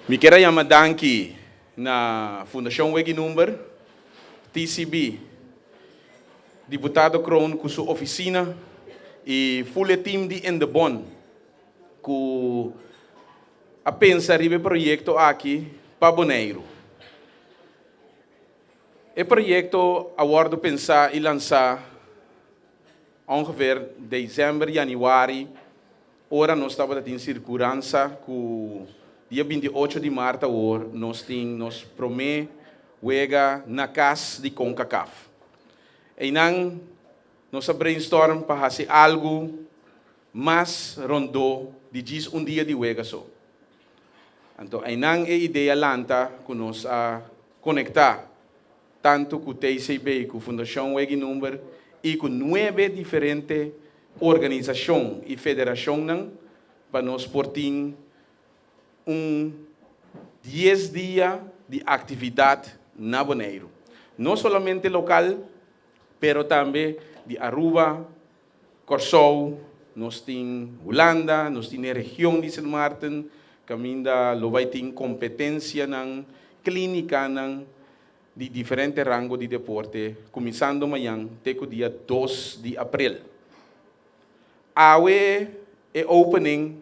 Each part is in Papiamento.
Mi kier a yama danki na Fundacion Weggie Number, TCB, Diputado Kroon cu su oficina y full e team di Endebon cu a pensa riba e proyecto aki pa Boneiru. E proyecto a wordo pensa y lansa ongeveer december, januari. Ora nos tabata tin sirkuransa ku dia binti ocho di mart awor nos tin nos promé wega na kas di Concacaf. Einan nos a brainstorm pa hasi algu mas rondó di djis un dia di wega so. Anto einan e idea lanta ku nos a konektá. tantu ku TCB, ku Fundashon Weggie Number i ku nuebe diferente organisashon i federashonnan pa nos por tin un dies dia di aktividat na Boneiru. No solamente lokal pero tambe di Aruba, Kòrsou, nos tin Hulanda, nos tin e region di Sint Maarten, kaminda lo bai tin kompetensianan, klínikanan di diferente rango di deporte, kuminsando mañan te ku dia dos di april. Awe e opening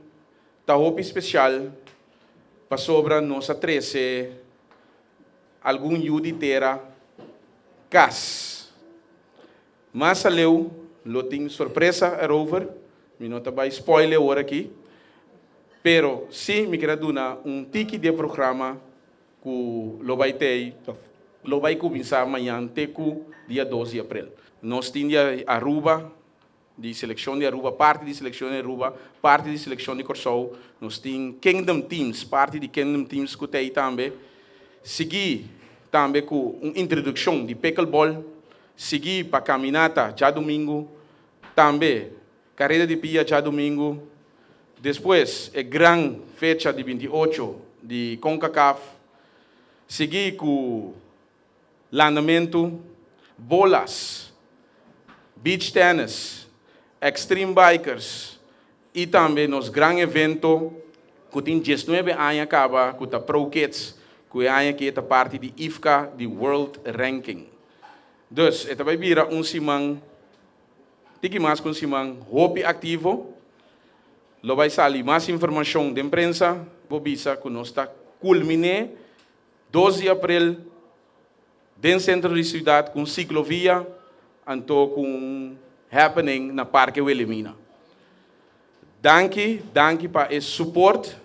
ta hopi spesial pasobra nos a trese algun yu di tera kas. Mas aleu lo tin sorpresa erover, mi no ta bai spoil e ora aki, pero si mi keda duna un tiki di e programa ku lo bai tei òf lo bai kuminsá mañan te ku dia dos di aprel. Nos tin di Aruba, di selekshon di Aruba, parti di selekshon di Aruba, parti di selekshon di Kòrsou, nos tin Kingdom Teams, parti di Kingdom Teams ku ta ei tambe, sigui tambe ku un introdukshon di Pickleball, Sigui pa kaminata djadumingu, tambe kareda di pia djadumingu, despues e gran fecha di binti ocho di Concacaf, sigui ku landamentu, bolas, beach tennis, extreme bikers i tambe nos gran evento ku tin diesnuebe aña kaba ku ta Pro Kids ku e aña ke ta parti di IFCA di World Ranking. Dus, e ta bai bira un siman, tiki mas ku un siman, hopi aktivo. Lo bai sali mas informashon den prensa. Bo bisa ku nos ta kulmin'é dos di aprel den sentro di siudat ku un siklovia anto ku un happening na Parke Wilimina. Danki, danki pa e suport.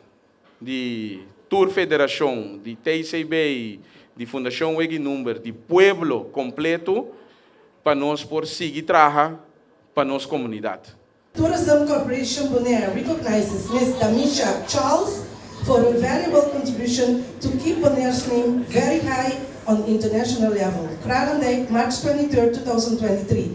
di tur federashon, di TCB i di Fundashon Weggie Number, di pueblo kompletu pa nos por sigui traha pa nos komunidat. Tourism Corporation Bonaire recognizes Miss Damisha Charles for her valuable contribution to keep Bonaire's name very high on international level, Kralendijk, March 23, 2023.